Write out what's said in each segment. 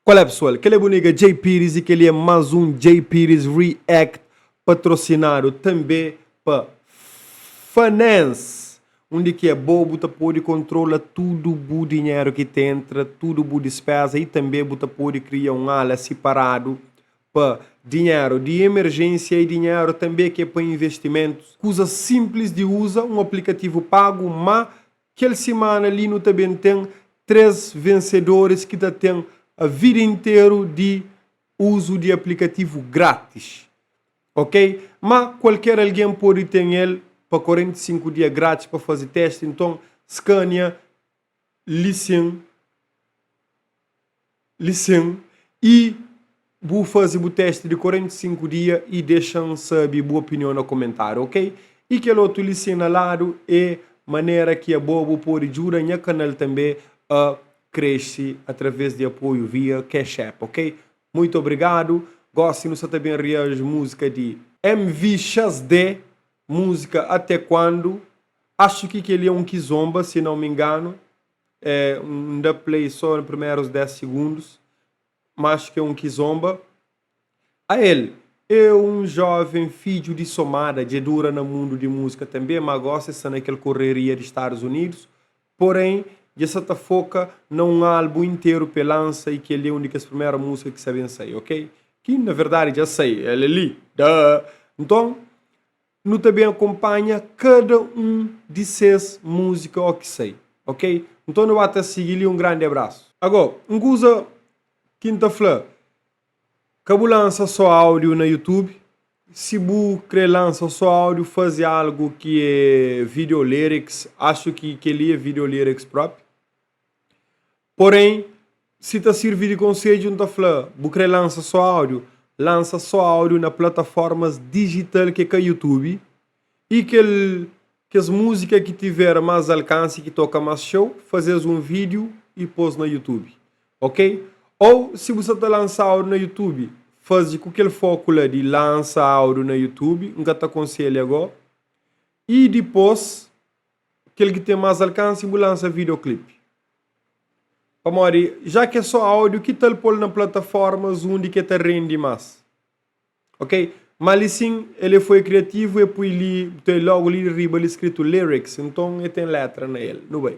Qual é pessoal, kel é bu nigga Djay Pires e kel-li é más un Djay Pires React patrosinadu tanbê pa Fanens, undi ki é bo bu ta pode kontrola tudu bu dinheru ki ta entra, tudu bu dispéza y tanbê bu ta pode kria un ala siparadu pa dinheru di emerjênsia y dinheru tanbê ki é pa investimentus. Kuza sinplis di uza, un aplikativu pagu má Kel simana li nu ta ben ten três vensedoris ki ta ten vida interu di uzu di aplikativu grátis, ok? Má kualker algen pode ten el pa 45 dia grátis pa faze testi. Nton, skania li sin. lisen y bu faze bu testi di 45 dia y dexa-m sabe bu opinion na komentáriu ok y kel otu lisen na ladu é manera ki abo bu pode djuda nha kanal tanbe a krese através di apoiu via cash app ok muito obrigado gosi nu sa ta ben reaji musika di M-V-X-D musika até quando acho ki kel-li é um kizomba si não me engano. é um dá play só na primeiros 10 segundos mas que um que zomba a el é um jovem filho de somada dje dura na mundo de música também mas agora se sa naquele correria de estados unidos porém dje sa ta foca na um álbum inteiro pe lança e kel li é um de kes primeira música que sa bem sai ok que na verdade dja sai el é li daa então Nu ta ben akonpanha kada un di ses múzika oki sai, ok? Nton nu ba ta sigi li. Un grandi abrasu! Ago, un kuza ki N ta fla, ka bu lansa so audio na YouTube, si bu kre lansa so audio fazi algo ki e video lyrics, acho ki keli e video lyrics propi. Porén, si ta sirvi di konsedju, N ta fla, bu krê lansa sô áudiu? Lansa sô áudiu na plataformas dijital ki é ka YouTube i kel kes múzika ki tiver más alkansi, ki toka más txeu, faze-s un vídiu i pô-s na YouTube, ok? Ô si bu sta ta lansa áudiu na YouTube, faze ku kel fóku la di lansa áudiu na YouTube, N ka ta konselha gó, i dipôs. kel ki ten más alkansi bu lansa videoclip pamodi já ki é só áudio ki tal pol na plataformas undi ki el ta rendi más ok má li sin el é foi kriativu el poi li bu ta uei logu li riba li skritu lyrics nton el ten létra na el nu bai.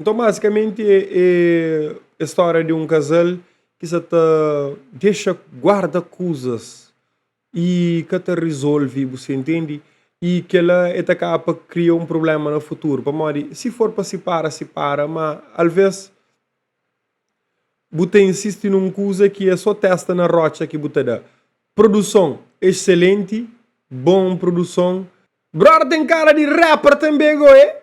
Nton bazikamenti é stória di un kazal ki sa ta dexa guarda kuzas y ka ta rizolvi bu sta intendi y kela é ta kaba pa kria un prubléma na futuru pamodi si for pa sipara sipara ma alvês bu ta insisti nun kuza ki é so testa na rótxa ki bu ta da produson exselenti bon produson. Brother ten kara di rapper tanbe goe.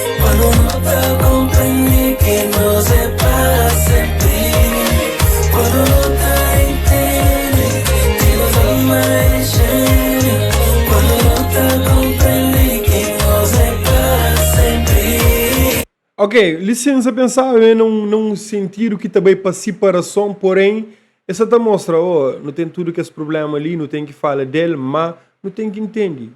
Ok, lisensa pensaba é na um, na um sentido que também para separação, porém, essa tá mostra, oh, não tem tudo que esse problema ali, não tem que falar dele, mas não tem que entender.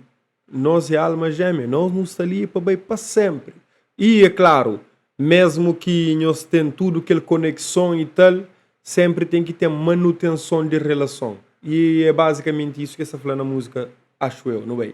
Nos é alma jémia, nos nu sta li pa bai pa sénpri. I, é klaru, mésmu ki nhos ten tudu kel konekson i tal, sénpri ten ki ten manutenson di relason. I é bazikamenti isu ki el sta fla na múzika, Achu eu. Nu bai.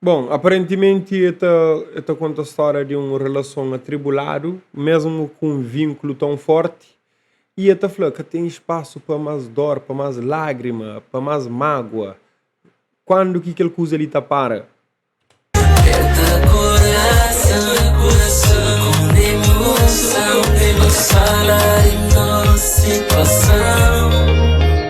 Bon, aparentimenti el ta, el ta konta stória di un relason atribuladu, mésmu ku un vínkulu ton fórti, i el ta fla, Ka ten spasu pa más dór, pa más lágrima, pa más mágua. Kandu ki kel kuza li ta para?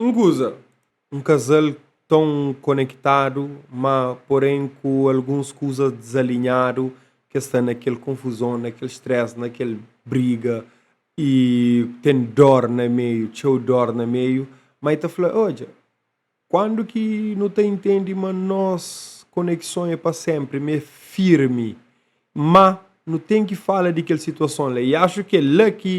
Un kuza, un kazal ton konektadu, má porén ku alguns kuza dizalinhadu, ki es sta na kel konfuzon, na kel stress, na kel briga y ten dor na meiu, txeu dor na meiu, má e ta fla, odja, kandu ki nu ta intendi ma nos konekson e pa senpri, ma e firmi, má nu ten ki fala di kel situason la, y axu ki e la ki.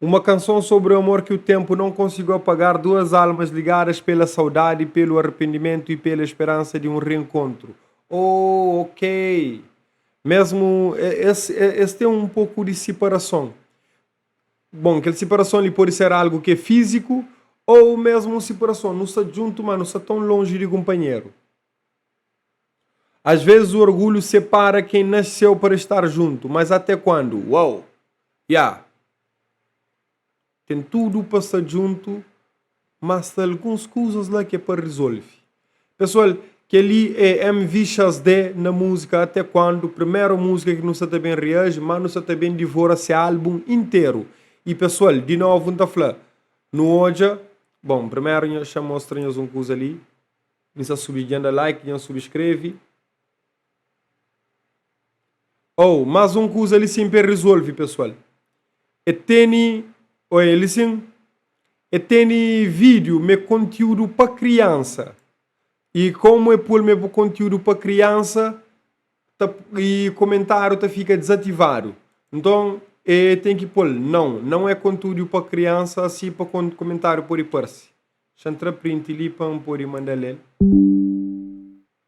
Uma canção sobre o amor que o tempo não conseguiu apagar Duas almas ligadas pela saudade, pelo arrependimento e pela esperança de um reencontro Oh, ok Mesmo es, es tem um pouco de separação Bom, kel separação li pode ser algo que é físico Ou mesmo um separação, nu sta djuntu, má nu sta tão longe de kunpanheru. Às vezes o orgulhu separa quem nasceu para estar junto, mas até quando? Uau! Ya! Tem tudo para estar junto, mas tem alguns coisas lá que é para resolver. Pessoal, kel-li é MV Chaz Dé na músika Até Quando, primeru músika ki nu sta ta ben reaji, má nu sta ta ben divora se álbum interu. I pessoal, di novu N ta fla, nu odja, bon primeru nha xa mostra-nhas un kuza li. N sa subi dja N da like dja N subscreve. Ou mas un kuza li sin pe resolve pessoal e teni oi ali sin e teni video me conteúdo pa criança e como e pol me bu conteúdo pa criança ta e comentario ta fica desativado nton e tem ki pol não não é contudio pa criança si pa comentario pode parse. Xa N tra print li pa N pode manda lel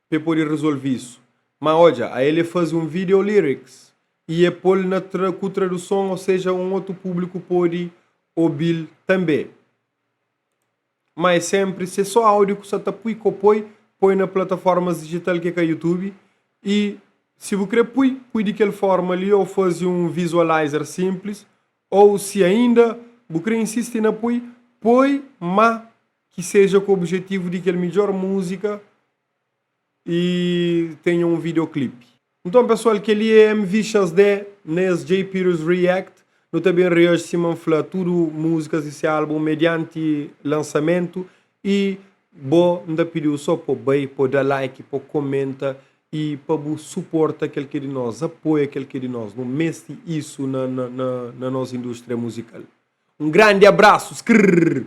pa e pode rezolvi isu. Ma odja, a el e fazi un video lyrics y e pol na ku traduson o seja un otu publiku pode obil tanbe. Ma e senpri se so audio ku sa ta pui ko poi poi na plataformas digital ke ka youtube y si bu kre pui, pui di kel forma li o fazi un visualizer simples Ou si ainda bu kre insisti na poi, poi ma ki seja ku objetivu di kel midjor muzika y tenha un videoclip. Nton pesual keli é MV Xasdé na es Jpirus React. Nu ta ben reaji sima N fla tudu muzikas di se album medianti lansamentu E bo nda pidiu so po bai po da like po komenta e pa bu suporta kel ki é di nos apoia kel ki é di nos nu mesti isu na na na nos industria muzikal um grandi abraço skrrr.